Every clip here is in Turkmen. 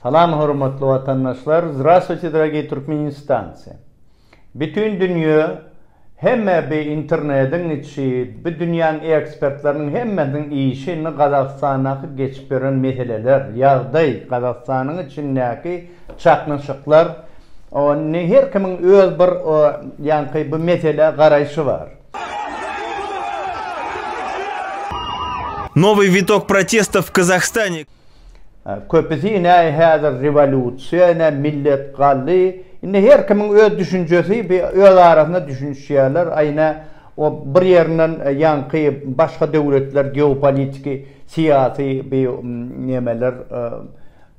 Salam hormatly watandaşlar Zdrastwuyte dragiý Türkmenistancy Bütün dünýe hemme bi internediň içi bi dünýäň ekspertleriniň hemmesiniň işi indi Gazagystandaky geçip ýören meseleler ýagdaý Gazagystanyň içindäki çaknyşyklar o indi her kimiň öz bir o ýaňky bu meselä garaýşy bar. Nowyý witog protestów w Kazahstanie. Köpüsi ine häzir rewolýusiýa, ine millet galdy. Indi her kimiň öz düşünjesi, öz arasynda düşünişýärler. Aý ine o bir ýerinden ýaňky başga döwletler geopolitiki, syýasy bi nemeler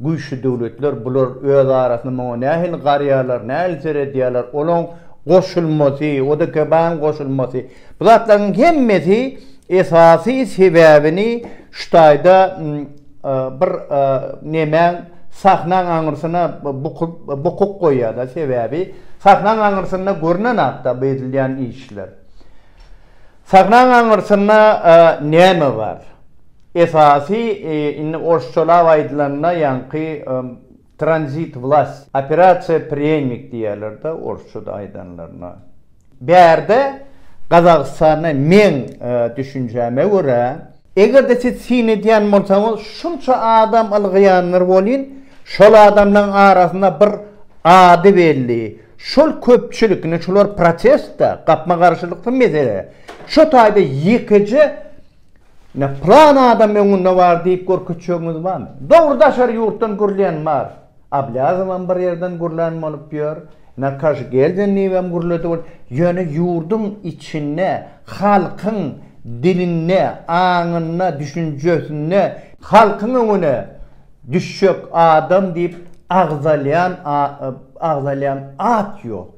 güýçli döwletler bular öz arasynda muňa nähili garýarlar, nähili seredýärler, olaň goşulmasy, ODKB-nyň goşulmasy. Bu zatlaryň hemmesi esasy sebäbini şu taýda bir nemäň sahnaň aňyrsyna bukup goýýar-da, sebäbi sahnaň aňyrsynda görnen zat-da bu edilýän işler. Sahnaň aňyrsynda näme bar? Esasy indi orsçalap aýdylanda ýaňky Tranzit Vlast, Operasiýa Prýennik diýýärler-de orsça-da aýdanlaryna. Bärde Gazagystanda meň düşünjäme görä, eger-de siz syn edýän bolsaňyz, şunça adam ylgaýanlar welin, şol adamlaryň arasynda bir ady belli, şol köpçülik, indi şular protest-de, gapma-garşylykly mesele, şo taýda ýekeje Ine, pylan adam öňünde bar diýip görkezjegiňiz barmy? Dogry daşary ýurtdan gürleýän bar. Ablýazowam bir ýerden gürlän bolup ýör. Ine, Kaşgeldenliýewem gürledi bolup. Ýöne ýurduň içinde halkyň dilinde, aňynda, düşünjesinde, halkyň öňüne düşjek adam diýip agzalýan agzalýan at ýok.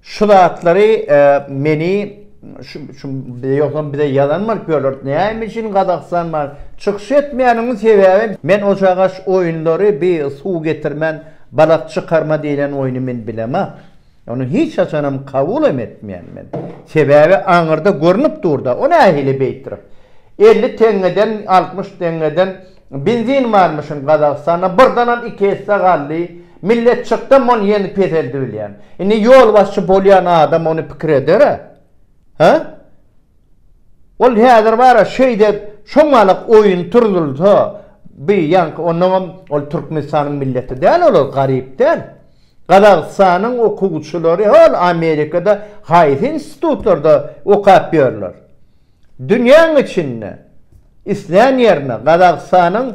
Şu zatlary meni şu şu ýogsam bize ýazan bolup ýörler. Näme üçin Gazagystan bar? Çykyş etmeýäniň sebäbi men o çagaş oýunlary bi suw getirmän balak çykarma diýlen oýny men bilemok. Ony hiç haçanam kabul hem etmeýän men. Sebäbi aňyrda görnüp dur-da, o nähili beýtdirip. Elli teňňeden, altmyş teňňeden Benzin barmyşyn Gazagystanda birdanam iki esse galdy millet çykda mony ýene peseldibilýän indi ýolbaşçy bolýan adam ony pikir edera ha ol häzir bara şeýde şoňalak oýun turzulsa bi ýaňky onnoňam ol Türkmenistanyň milleti däl olar garyp däl Gazagystanyň okuwçylary hol Amerikada haýsy institutlarda okap ýörler. dünýäň içinde islän ýerine Gazagystanyň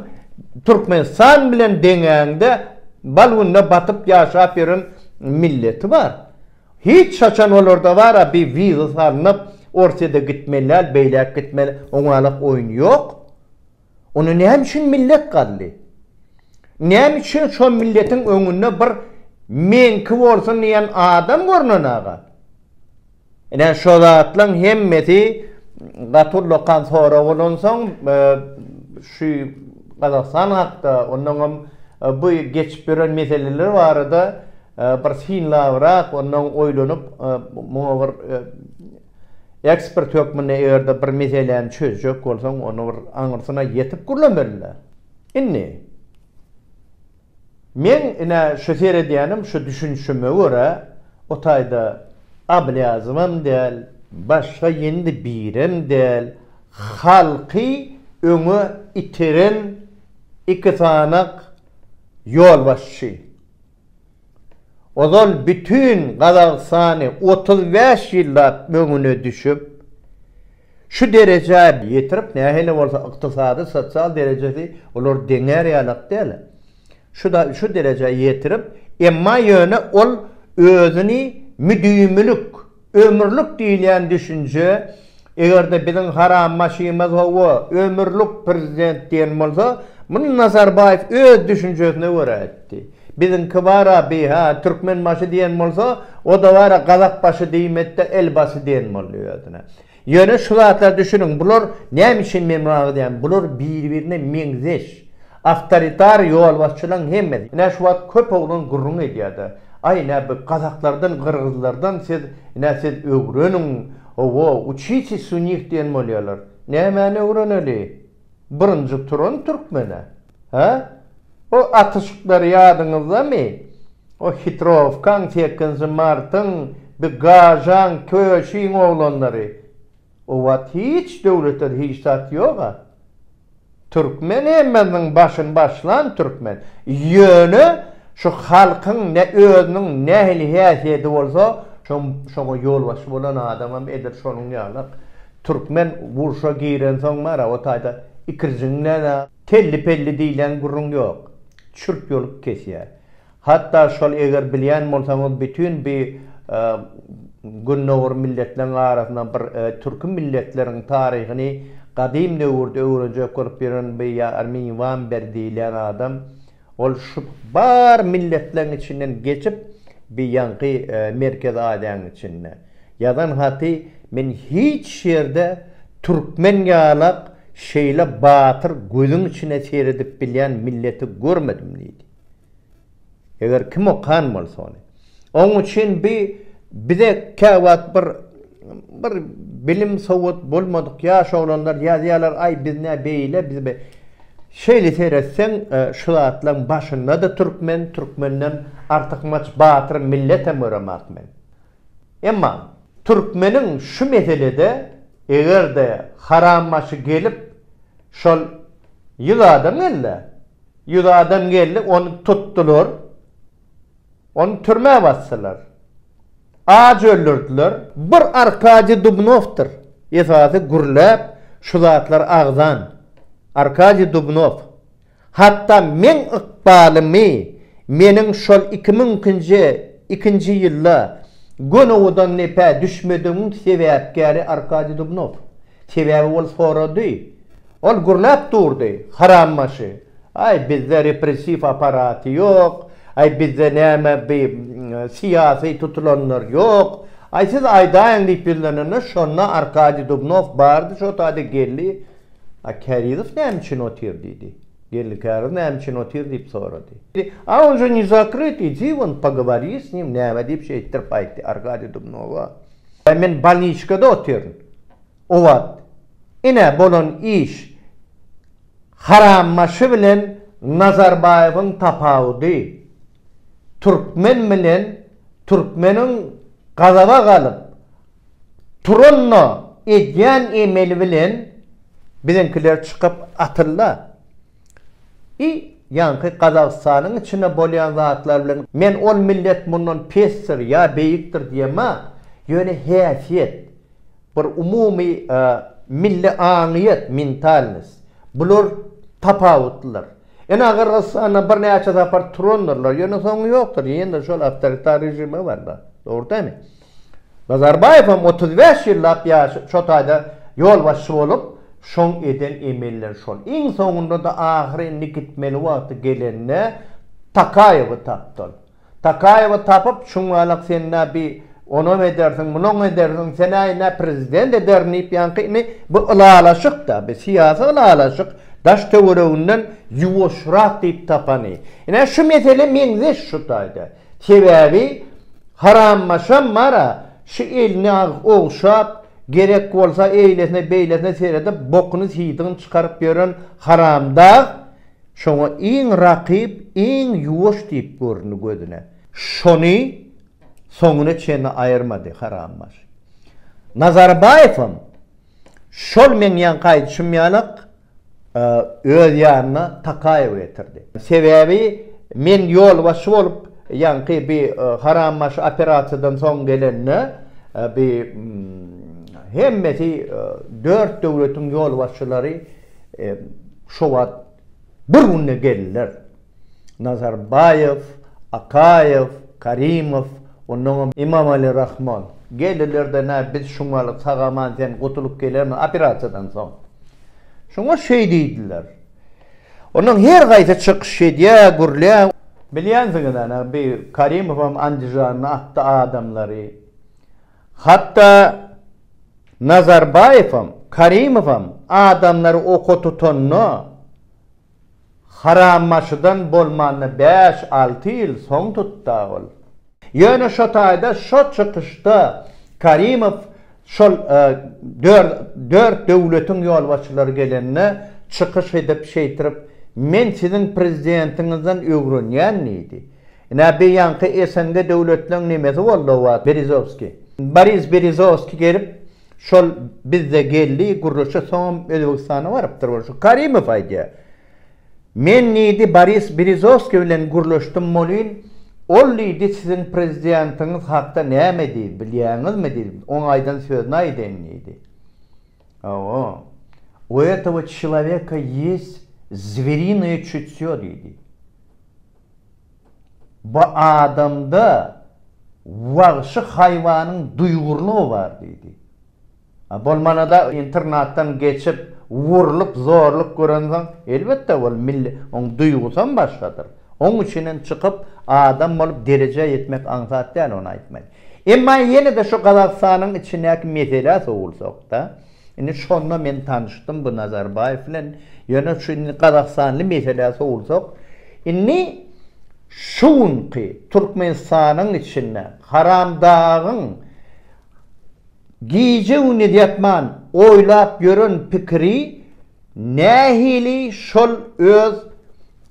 Türkmenistan bilen deňäňde bal gününe batyp ýaşap ýören milleti bar. Hiç haçan olarda bar a bir wiza salnyp Orsýede gitmeli däl beýläk gitmeli oňalak oýun ýok. Ony näme üçin millet galdy? Näme üçin şo milletiň öňünde bir meňki bolsun diýen adam görnenega? Ine şo zatlaň hemmesi gaty ullakan sorag bolansoň şu Gazagystan hakda onnoň hem bu geçip ýören meseleler barada bir synlabrak onnoň oýlanyp muňa bir Ekspert hökmünde eger-de bir meseläni çözjek bolsaň, ony bir aňyrsyna ýetip gürlemeli-dä. Indi, meň ine şu seredýänim, şu düşünişime görä, o taýda Ablýazowam däl, başga ýendi birem däl, halky öňe iteren iki sany ýolbaşçy, Ozal bütin Gazagystany otuz bäş ýyllap öňüne düşüp, şu derejä ýetirip, nähili bolsa ykdysady, sosial derejesi olar deňär ýalak däl, şuda şu derejä ýetirip, emma ýöne ol özüni müdimilik, Ömürlik diýilýän düşünje, eger-de biziň haram maşymyz hawa, ömürlik prezident diýen bolsa, muny Nazarbaýew öz düşünjesine görä aýtdy. Biziňki bar-a bi, hä, türkmenbaşy diýen bolsa, o-da bar-a gazakbaşy diýmedi-de, elbaşy diýen boldy özüne. Ýöne şu zatlara düşüniň, bular näme üçin men muny agzýan, bular biri-birine meňzeş awtoritar ýolbaşçylaryň hemmesi. Ine şu wagt köp oglan gürrüň edýärdi, Aý ine bu gazaklardan, gyrgyzlardan siz ine siz öwreniň, owo, uçitesiz u nich diýen bolýarlar. Nämäni öwreneli? birinji turan türkmene, hä? O atyşyklar ýadyňyzdamy? O hitrowkaň, sekinji martyň, bi gažaň, köşiň oglanlary. O wagt hiç döwlete-de hiç zat ýog-a. Türkmen hemmesiniň başyny başlan türkmen. Ýöne şu halkyň ne özüniň nähili häsiýeti bolsa, şoň, şoňa ýolbaşçy bolan adamam edil şonuň ýaly-ak. Türkmen urşa girensoň mara o taýda ikirjiňlän-ä. Telli-pelli diýlen gürrüň ýok. Çürt ýolup kesýär. Hatda şol eger bilýän bolsaňyz bütin bi Gündogar milletleriň arasynda bir türki milletleriň taryhyny gadym döwürde öwrenjek bolup ýören bi Armin Wamber diýlen adam Ol şu bar milletleň içinden geçip bi ýaňky Merkezi Aziýaň içinde. Ýazan haty men hiç ýerde türkmen ýalak şeýle batyr gözüň içine seredip bilýän milleti görmedim diýdi. Eger kim okan bolsa ony. Oň üçin bi bize käwagt bir bir bilim sowat bolmadyk ýaş oglanlar ýazýarlar aý biz nä beýle biz be şeýle seretseň şu zatlaň başynda da türkmen türkmenden artykmaç batyr milletem göremak men. Emma türkmeniň şu meselede egerde haram başy gelip şol ýüz adam geldi ýüz adam geldi ony tutdylar Ony türmä basdylar. Aç öldürdiler. Bir Arkadiý Dubnowdyr esasy gürläp şu zatlary agzan. Arkadiý Dubnow. Hatda meň ykbalymy meniň şol iki müňkinji ikinji ýylda Gönügudan nepä düşmedigimiň sebäpkäri Arkadiý Dubnow. Sebäbi ol sorady. Ol gurnap durdy, harambaşy. Aý, bizde repressiw apparaty ýok, aý, bizde näme bi syýasy tutulanlar ýok, aý, siz aýdaýyň diýip ýüzlenende, şonda Arkadiý Dubnow bardy, şo taýda geldi, A Kärizow näme üçin otyr? diýdi. Geldi Kärizow näme üçin otyr diýip sorady. A on je ne zakryt, idi won, pogovori s nim, näme diýip şeýtdirip aýtdy Arkadiý Dubnowa. Ýa men balniçkada otyryn. O wagt, ine, bolan iş. Harambaşy bilen Nazarbaýewiň tapawudy, türkmen bilen türkmeniň gazaba galyp, turanda edýän emeli bilen biziňkiler çykyp atylda. I ýaňky Gazagystanyň içinde bolýan zatlar bilen men ol millet mundan pesdir ýa beýikdir diýemä, ýöne häsiýet, bir umumy milli aňyýet, mentalnost, bular tapawutlylar. Ene Gyrgyzystanda birnäçe sapar turandyrlar, ýöne soňy ýokdur, ýene-de şol awtoritar režime barýar, dogry dämi? Nazarbaýewem otuz bäş ýyllap ýaşy şo taýda ýolbaşçy bolup, şoň eden emelleri şol. Iň soňunda-da ahyry indi gitmeli wagty gelende Takaýewi tapdy ol. Takaýewi tapyp, çuňňalak sen-ä bi onam edersiň, munam edersiň, sen-ä ine prezident ederin diýip ýaňky indi bu ylalaşyk-da, bi syýasy ylalaşyk, daş-töwereginden ýuwaşrak diýip tapany. Ine şu mesele meňzeş şu taýda. Sebäbi harammaşam bar-a, şu elini agyz ogşap, gerek bolsa eýlesine-beýlesine seredip, bokuny-siýdigini çykaryp ýören haramdag, şoňa iň rakyp, iň ýuwaş diýip göründi gözüne. Şony soňuna çenli aýyrmady harammaş. Nazarbaýewem şol meň ýaňky aýdyşym ýalak, öz ýanyna Takaýewi getirdi. Sebäbi men ýolbaşçy bolup, ýaňky bi harambaşy operasiýadan soň gelende, bi hemmesi dört döwletiň ýolbaşçylary şo wagt bir günde geldiler. Nazarbaýew, Akaýew, Karimow, onnoňam Imamali Rahmon. Geldiler-de, Nä, biz şuňaly sag-aman sen gutulyp gelermiň operasiýadan soň? Şoňa şeý diýdiler. Onnoň her haýsy çykyş edýä, gürlýä. Bilýänsiňiz, ana, bi Karimowam Andijandan atdy adamlary. Hatda Nazarbaýewem, Karimowem adamlary oka tutanda, Harambaşydan bolmanda bäş-alty ýyl soň tutd-a ol. Ýöne şo taýda şo çykyşda Karimow şol dört döwletiň ýolbaşçylary gelende çykyş edip şeýtirip Men siziň prezidentiňizden öwrenýän diýdi. Ine beýanky SNG döwletleň nemesi boldy o wagt Berizowskiý. Boris Berizowskiý gelip Şol bizde geldi gürrüşe soňam Özbegistana barypdyr ol şu Karimow aýdýa. Men diýdi Boris Berizowskiý bilen gürleşdim bolyn ol diýdi siziň prezidiantyňyz hakda näme diýdi bilýäňizmi diýdi oň aýdan sözüni aýdaýyn diýdi. Hawa u etawo çilaweka ýes zwerinyýe çütýo diýdi. Bu adamda wagşy haýwanyň duýgurlygy bar diýdi. A bolmanada internatdan geçip, wurlup, zorluk görensoň, elbetde ol milli, oň duýgusam başgadyr. Oň üçinem çykyp, adam bolup derejä ýetmek aňsat däl, ony aýtmaýyn. Emma ýene-de şu Gazagystanyň içindäki meselä sowulsak-da, Indi şonda men tanyşdym bu Nazarbaýew bilen. Ýöne şu indi gazagystanly meselä sowulsak, indi şu günki Türkmenistanyň içinde Haramdagyň gije-gündiz ýatman oýlap ýören pikiri Nähili şol öz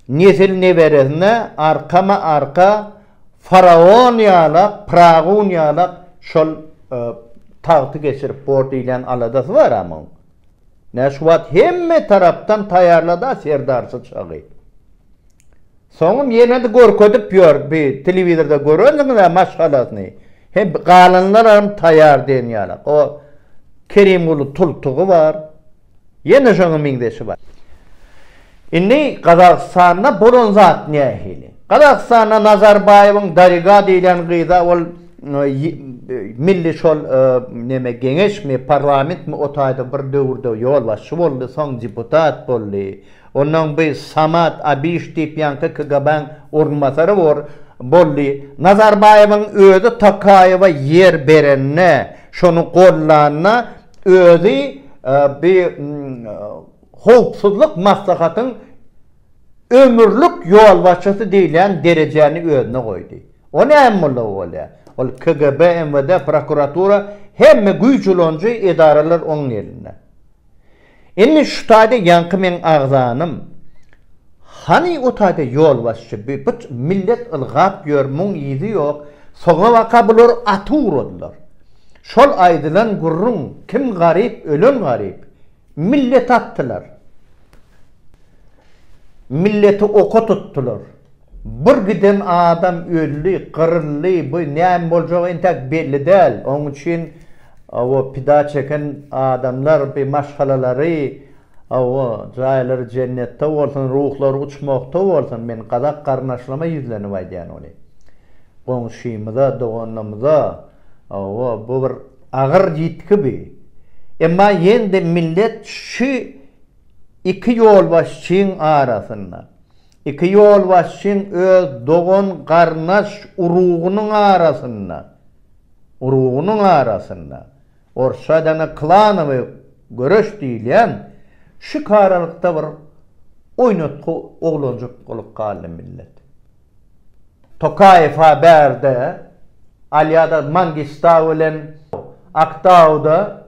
nesil-neberesine arkama-arka faraon ýalak, pragun ýalak şol tagty geçirip bor diýlen aladasy bar-a muň. Nä şu wagt hemme tarapdan taýýarla-da serdarsyz çagy. Soňam ýene-de görkezip ýör bi telewizorda görendiňiz-ä maşgalasyny. He galanlaram taýýar diýen ýalak. O Kerimguly tultugy bar. Ýene şoňa meňzeşi bar. Indi Gazagystanda bolan zat nähili? Gazagystanda Nazarbaýewiň Dariga diýlen gyza ol milli şol neme geňeşmi, parlamentmi o taýda bir döwürde ýolbaşçy boldy, soň deputat boldy. Onnoň bi Samat Abiş diýip ýaňky KGB-niň orunbasary bor, boldy. Nazarbaýewiň özi Tokaýewa ýer berende, şony gollanda, Özi bi howpsuzlyk maslahatyň ömürlik ýolbaşçysy diýilýän derejäni özüne goýdy. O näme bolsa o bolýar. Ol KGB, MWD, prokuratura, hemme güýç ulanjy edaralar onuň elinde. Indi şu taýda ýaňky meň agzanym. Hany o taýda ýolbaşçy bi but millet ylgap ýör muň yzy ýok soňa baka bular aty ugradylar. Şol aýdylan gürrüň kim garyp ölen garyp. Milleti atdylar. Milleti oka tutdylar. Bir giden adam öldi, gyryldy, bu näme boljagy entäk belli däl. Oň üçin o pida çeken adamlar bi maşgalalary o jaýlary jennetde bolsun, ruhlary uçmakda bolsun. Men gazak garyndaşlaryma ýüzlenip aýdýan ony. Goňşymyza, doganymyza o bu bir agyr ýitgi bi. Emma ýende millet şu iki ýolbaşçyň arasynda. Iki ýolbaşçyň öz dogan-garyndaş urugynyň arasynda, urugynyň arasynda, orsçada na klanowy göreş diýilýän, şikaralykda bir oýnatgy oglanjyk bolup galdy millet. Tokaýew-a bärde, Alýada Mangistau bilen Aktauda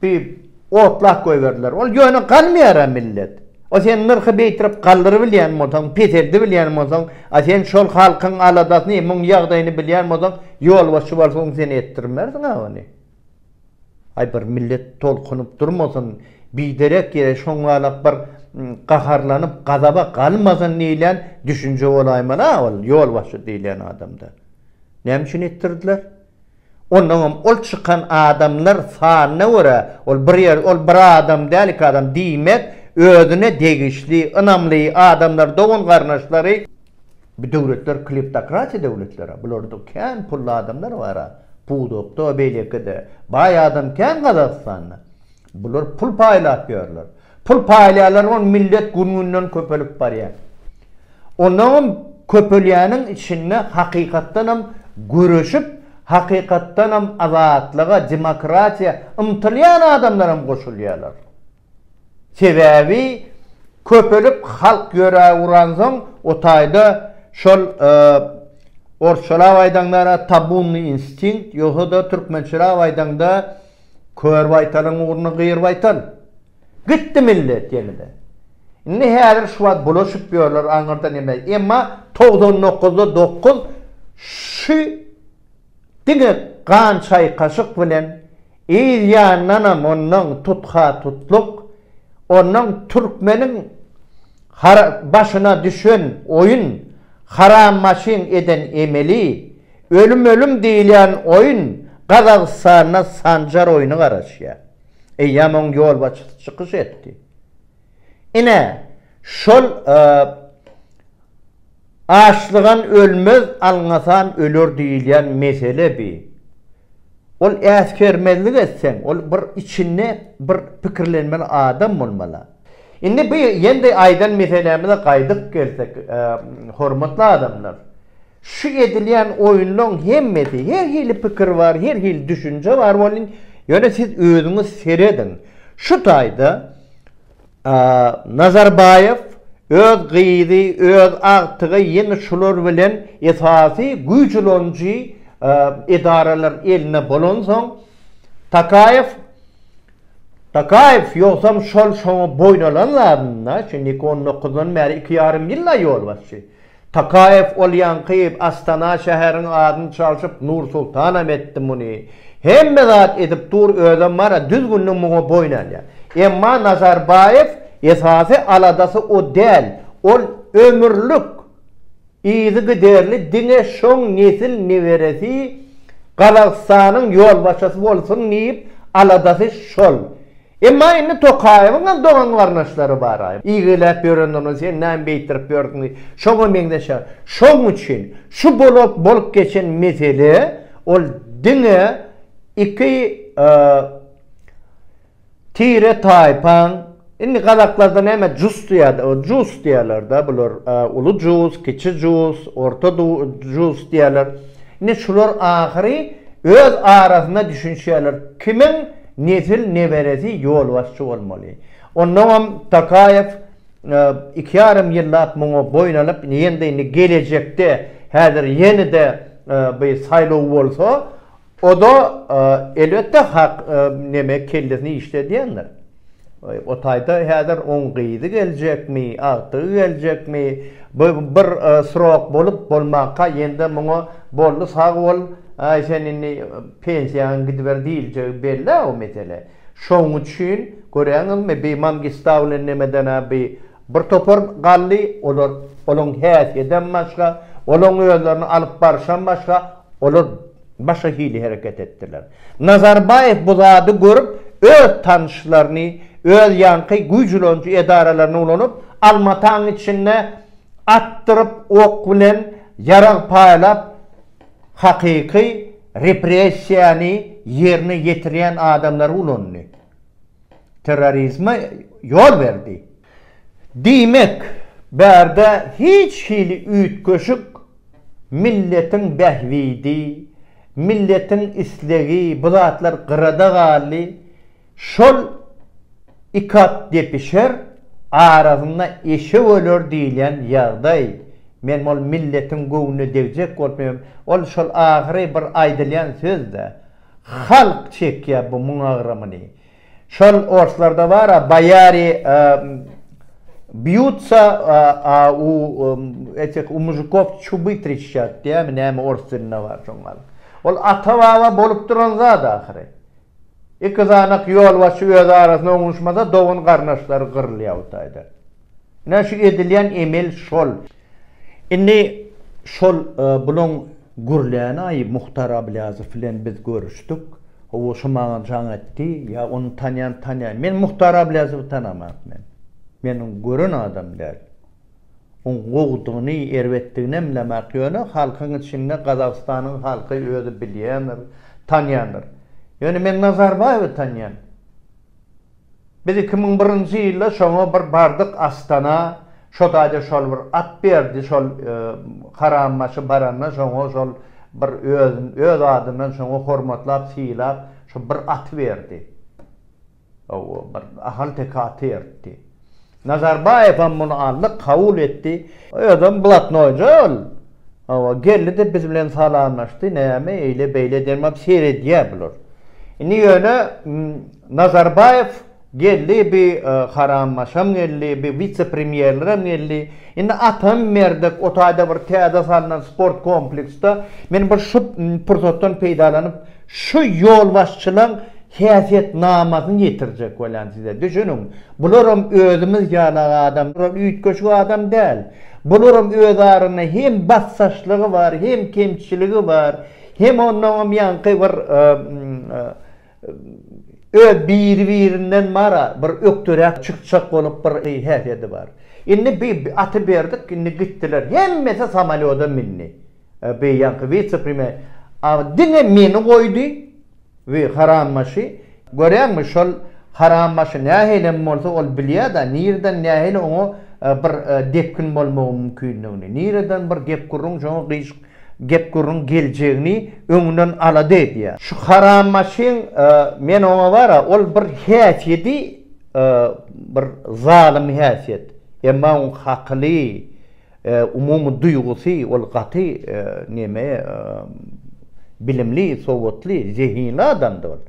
Diýip, otlap goýberdiler. Ol ýöne galmaýar-a millet. A sen nyrhy beýtirip galdyrybilýän bolsaň, peseldibilýän bolsaň, a sen şol halkyň aladasyny, muň ýagdaýyny bilýän bolsaň, ýolbaşçy bolsaň sen etdirmersiň-ä ony. Aý bir millet tolkunyp durmasyn, biderek ýere şoňalap bir gaharlanyp, gazaba galmasyn diýlen düşünje bolaýmaly-a ol ýolbaşçy diýlen adamda. Näme üçin etdirdiler? Onnoňam ol çykan adamlar sanyna görä, ol bir ýer, ol bir adam däl, iki adam, diýmek, özüne degişli, ynamly adamlar, dogan-garyndaşlary, bu döwletler kleptokratiýa döwletler-ä, bularda kän pully adamlar bar-a, pudakda, beýleki-de, baý adam kän Gazagystanda. Bular pul paýlap ýörler. Pul paýlaýarlar ony millet gün-günden köpelip barýar. Onagam köpelýäniň içinde hakykatdanam göreşip, hakykatdanam azatlyga, demokratiýa ymtylýan adamlaram goşulýarlar. Sebäbi köpelip halk ýöre uransoň o taýda şol orsçalap aýdaňda tabunnyý instinkt ýogsa-da türkmençelap aýdaňda Kör baýtalyň ugruna gyr baýtal. Gitdi millet ýene-de. Indi häzir şu wagt bulaşyp ýörler aňyrda neme, emma togsan dokuzda dokuz şu diňe gan çaýkaşyk bilen yz ýandanam ondan tutha-tutluk, ondan türkmeniň başyna düşen oýun, haram maşyn eden emeli, Ölüm ölüm diýilýän oýun Gazagystanda Sanjar oýny garaşýar. Eýýäm oň ýolbaşçysy çykyş etdi. Ine, şol Açlygan ölmez, alňasan öler diýilýän mesele bi. Ol äsgermezlik etseň, ol bir içinde bir pikirlenmeli adam bolmaly. Indi bu ýendi aýdan meselämize gaýdyp gelsek, hormatly adamlar, şu edilýän oýunlaň hemmesi, her hili pikir bar, her hili düşünje bar welin, ýöne siz özüňiz serediň, şu taýda Nazarbaýew öz gyzy, öz agtygy ýene şular bilen esasy güýç ulanyjy edaralar elinde bolansoň, Tokaýew Takaýew, Ýogsam şol şoňa boýun alan zadynda, şindi iki on dokuzdan bäri iki ýarym ýyl-a ýolbaşçy. Takaýew ol ýaňky Astana şäheriň adyny çalşyp Nur-Sultanam etdi muny. Hemme zat edip dur, özem bar-a düzgünli muňa boýun alýar. Emma Nazarbaýew esasy aladasy o däl, ol ömürlik Yzygiderli diňe şoň nesil neberesi Gazagystanyň ýolbaşçysy bolsun diýip aladasy şol. Emma indi Tokaýewiňem dogan garnaşlary baraý. Ýigiläp ýörendirin sen näme beýtdirip ýörsiň diýip. Şoňa meňzeşer. Şoň üçin şu bolat bolup geçen mesele ol diňe iki Tire taýpaň Indi gazaklarda näme jus diýýärdi, o jus diýýärler-de bular, uly jus, kiçi jus, orta jus diýýärler. Indi şular ahyry öz arasynda düşünişýärler, kimiň nesil neberesi ýolbaşçy bolmaly. Onnoňam Tokaýew iki ýarym ýyllap muňa boýun alyp, ýene-de indi gelejekde, häzir ýene-de bir saýlaw bolsa, O-da, elbetde, hak neme kellesini işledýändir. O taýda häzir oň gyzy geljekmi, agtygy geljekmi, bu bir srok bolup bolmanka ýende muňa boldy sag bol, aý sen indi pensiýaňa gidiber diýiljegi belli-ä o mesele. Şoň üçin, görýäňizmi, bi Mangistaulin nemeden-ä bi Bir topar galdy, olar, olaň häsiýedem başga, olaň özlerini alyp barşam başga, olar başga hili hereket etdiler. Nazarbaýew bu zady görüp, öz tanyşlaryny, öz ýaňky güýjülenji edaralaryny ulanyp, Almataň içinde atdyryp, ok bilen ýarag paýlap, hakyky repressiýany ýerine ýetirýän adamlary ulandy. terrorizme ýol berdi. Diýmek, bärde hiç hili üýtgeşik milletiň bähbidi, milletiň islegi bu zatlar gyrada galdy. Şol iki at depişer, arasynda eşek öler diýlen ýagdaý. Men ol milletiň göwnüne degjek bolsam, ol şol ahyry bir aýdylýan söz-dä. Halk çekýä bu muň agramyny. Şol orslarda bar a boýary býutsa a u etih u muzykov çuby trişçat diýämi näme ors dilinde bar şoň gal. Ol ata baba bolup duran zat ahyry. Iki zanak ýolbaşçy öz arasynda oňuşmasa dogan garnaşlary gyrylýa bu taýda. Ine şu edilýän emel şol. Indi şol bulaň gürlänaýy Muhtar Ablýazow bilen biz görüşdik. Hawa şu maňa jaň etdi. Ýa ony tanýan tanýar. Men Muhtar Ablýazowy tanaman men. Men ony gören adam däl. Oň gowudygyny, erbetdigini hem bilemak. Ýöne halkyň içinde Gazagystanyň halky özi bilýändir, tanýandyr. Ýöne men Nazarbaýewi tanýan. Biz iki müň birinji ýylda şoňa bir bardyk Astana, şo taýda şol bir at berdi, şol Karambaşy baranda şoňa şol bir özün öz adyndan şoňa hormatlap sylap şo bir aty berdi. Ow bir ahalteke aty bertdi. Nazarbaýewem muny andyk kabul etdi. Özem blatnoýja ol. Hawa, geldi-de biz bilen salamlaşdy. Näme eýle-beýle demap seredýär bular. Indi ýöne Nazarbaýew geldi, bi harambaşam geldi, bi wise-premýerlerem geldi. Indi atam Merdek o taýda bir täze salnan sport kompleksde. Men bir şu pursatdan peýdalanyp Şu ýolbaşçylaň häsiýetnamasyny ýetirjek bolýan size. Düşüniň, bularam özümiz ýaly adam, bular üýtgeşik adam däl. Bularam öz aranda hem basdaşlygy bar, hem kemçiligi bar, hem onnoňam ýaňky bir öz biri-birinden mara bir ökderäk çykjak bolup bir häsiýedi bar. Indi bi aty berdik, indi gitdiler. Hemmesi samolýoda mindi. Bi ýaňky wise prime Aa diňe meni goýdy we harambaşy görýäňmi şol harambaşy nähilem bolsa ol bilýäda nirden nähili oňa bir depgin bolmagy mümkindigini nireden bir gep gürrüň şoňa gyş gep gürrüň geljegini öňünden alada edýä. Şu harambaşyň men oňa bara ol bir häsiýedi bir zalym häsiýet emma oň hakyly Umumy duýgusy ol gaty neme bilimli sowatly zehinli adamdy ol.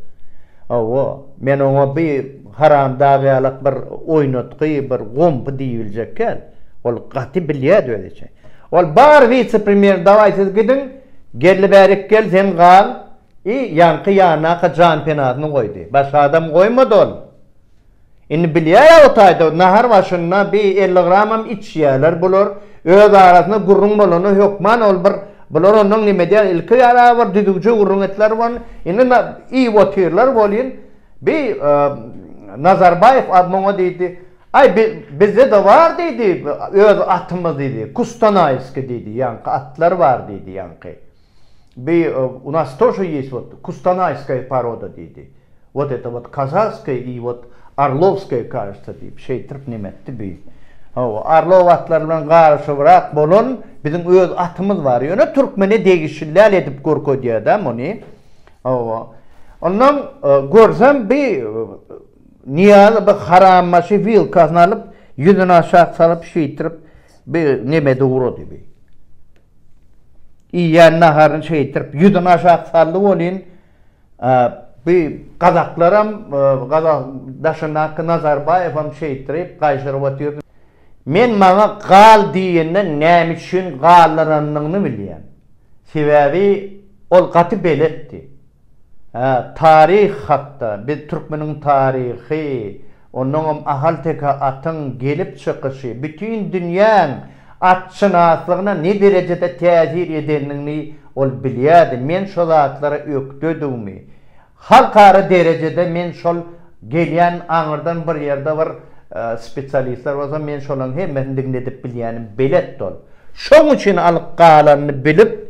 Hawa, men oňa bi haramdag ýalak bir oýnatgy bir gompy diýibiljek kän. Ol gaty bilýädi özi üçin. Ol bar wise-premýer dawaý siz gidiň, Geldi bärik gel sen gal i ýaňky ýanaka janpenasyny goýdy. Başga adam goýmady ol. Indi bilýär-ä o taýda nahar başynda bi elli gramam içýärler bular. Öz arasynda gürrüň bolanda hökman ol bir bular ondan neme edýär ilki ýara bir düzüwje gürrüň etdiler wan indi na iýip otyrlar welin bi Nazarbaýew a muňa diýdi Aý bi bizde-de bar diýdi öz atymyz diýdi Kustanaýski diýdi ýaňky atlar bar diýdi ýaňky. Bi u nas toşo ýes wot kustanaýskaýa paroda diýdi. Wot eta wot kazaskaýa i wot arlowskaýa kažetsa diýip şeýtirip neme etdi bi. Hawa, arlow atlary bilen garyşybrak bolan biziň öz atymyz bar. Ýöne türkmene degişilläl edip görkezýä-dä muny. Hawa. Onnoň görsem bi Nyýazy bir harambaşy wilkasyny alyp, ýüzüni aşak salyp, şeýtirip, bi nebede ugrady bi. Iýýän naharyny şeýtirip, ýüzüni aşak saldy welin, bi gazaklaram, gazak daşyndaky Nazarbaýewem şeýtirip, gaýşyryp otyrdy. Men maňa gal diýende näme üçin galdyranyny bilýän. Sebäbi ol gaty beletdi. Hä, taryh hakda, biz türkmeniň taryhy, onuňam ahalteke atyň gelip çykyşy, bütin dünýäň atşynaslygyna ne derejede täsir edendigini ol bilýärdi, men şo zatlara ökdedigimi, halkara derejede men şol gelýän aňyrdan bir ýerde bir spesialistler bolsa men şolaryň hemmesini diňledip bilýänim beletdi ol. Şoň üçin alyp galanyny bilip.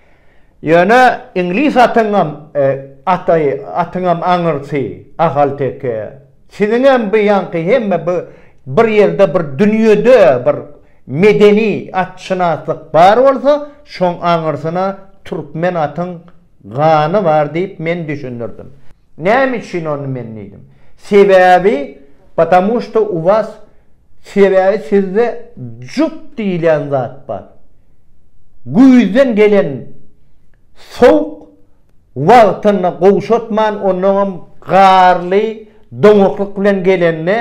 Ýöne iňlis atyňam aty, atyňam aňyrsy, ahalteke. Siziňem bu ýaňky hemme bu bir ýerde bir dünýede bir medeni atşynaslyk bar bolsa, şoň aňyrsyna türkmen atyň gany bar diýip men düşündirdim. Näme üçin ony men diýdim. Sebäbi Patamu şto u was sebäbi sizde jup diýilýän zat bar. Güýzden gelen sowuk wagtynda gowşatman onnoňam garly doňaklyk bilen gelende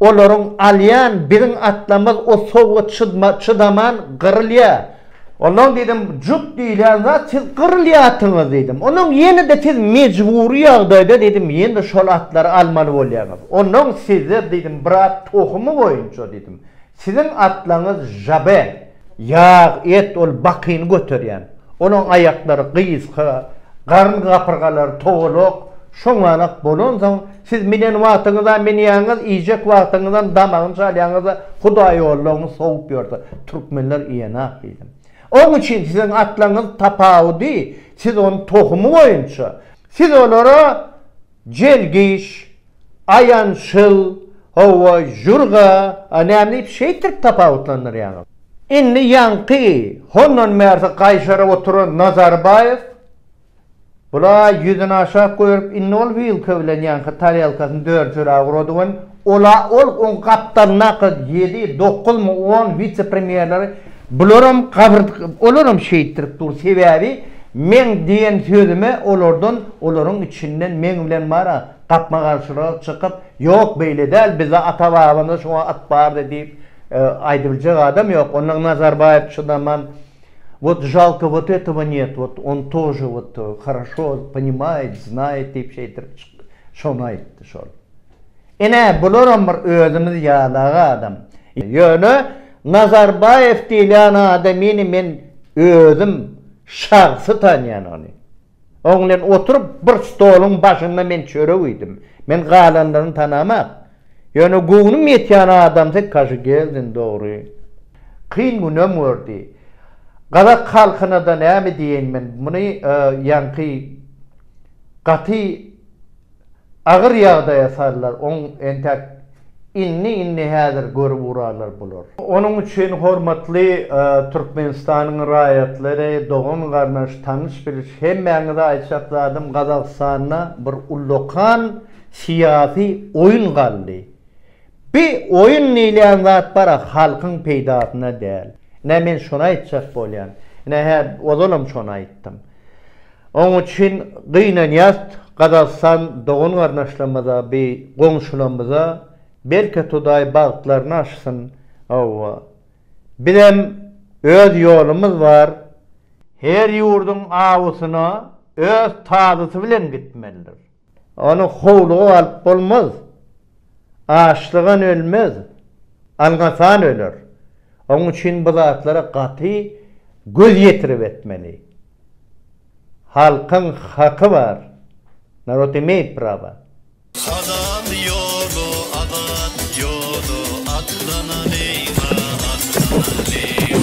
olaryň alýan biziň atlarymyz o sowuga çydaman gyrylýar. Ondan diýdim, Jut diýilýän zat siz gyrylýarsyňyz diýdim. Ondan ýene-de siz mejbury ýagdaýda diýdim, ýene-de şol atlary almaly bolýaňyz. Ondan sizler diýdim, bir at tohumy boýunça diýdim, siziň atlaryňyz žabe, ýag, et, ol bakyny göterýän, onuň aýaklary gysga, garyn gapyrgalary togalak, şoňalak bolansoň, Siz minen wagtyňyza menýäňiz iýjek wagtyňyzam damagyny çalýaňyzda hudaý ollaryňy sowup ýörse türkmenler iýenak diýdim. Oň üçin siziň atlaryňyz tapawudy siz ony tohumy boýunça siz olara jelgiş, aýançyl, hawa jürga, a näme diýip şeýtirip tapawutlandyrýaňyz. Indi ýaňky hondan bärsi gaýşaryp oturan Nazarbaýew Bula ýüzüni aşak goýup, indi ol wilka bilen ýaňky tarelkasyny dörjüräk urady we ol-a ol, oň gapdalyndaky ýedi, dokuzmy, on wise-premýerleri, bularam gabyr, olaram şeýtdirip dur, sebäbi meň diýen sözüme olardan, olaryň içinden meň bilen bar-a, gapma-garşylyga çykyp, ýok, beýle däl, bizde ata-babamyzda şuňa at bardy diýip, aýdybiljek adam ýok. Onda Nazarbaýew çydaman. Wot žalko wot etowa njet wot on tože wot horoşo ponimaýet znaýet diýip şeýtirip çyk şony aýtdy şol ine bularam bir özümiz ýalag adam ýöne Nazarbaýew diýilýän adamyny men özüm şahsy tanýan ony. Oňlen oturyp, bir stoluň başynda men çörek iýdim. Men galanlaryny tanamok. Ýöne göwnüm ýetýän adamsy Kaşygeldin, dogry. Kyn günem gördi. Gazak halkyna-da näme diýeýin men, muny ýaňky gaty. agyr ýagdaýa sallar, oň entäk indi indi häzir görüp urarlar bular. Onuň üçin hormatly Türkmenistanyň raýatlary, dogan garnaş, tanyş biliş hemmäňize aýtjak zadym Gazagystanda bir ullakan syýasy oýun galdy. Bi oýun diýilýän zat bara halkyň peýdasyna däl. Ine men şony aýtjak bolýan. Ine hä ozalam şony aýtdym. Oň üçin gynanýast Gazagystan dogan garnaşlamyza bi goňşulamyza belki Hudaý bagtlaryny açsyn Hawwa bizem öz ýolumyz bar, her ýurduň awusyna öz tazysy bilen gitmelidir. Ony howluga alyp bolmaz. Açlygan ölmez, alňasan öler. Oň üçin bu zatlara gaty göz ýetirip etmeli. Halkyň haky bar. Narod imeýt praba. Hazal ýoly azat ýoly atlanalýyňa atlanalýyň.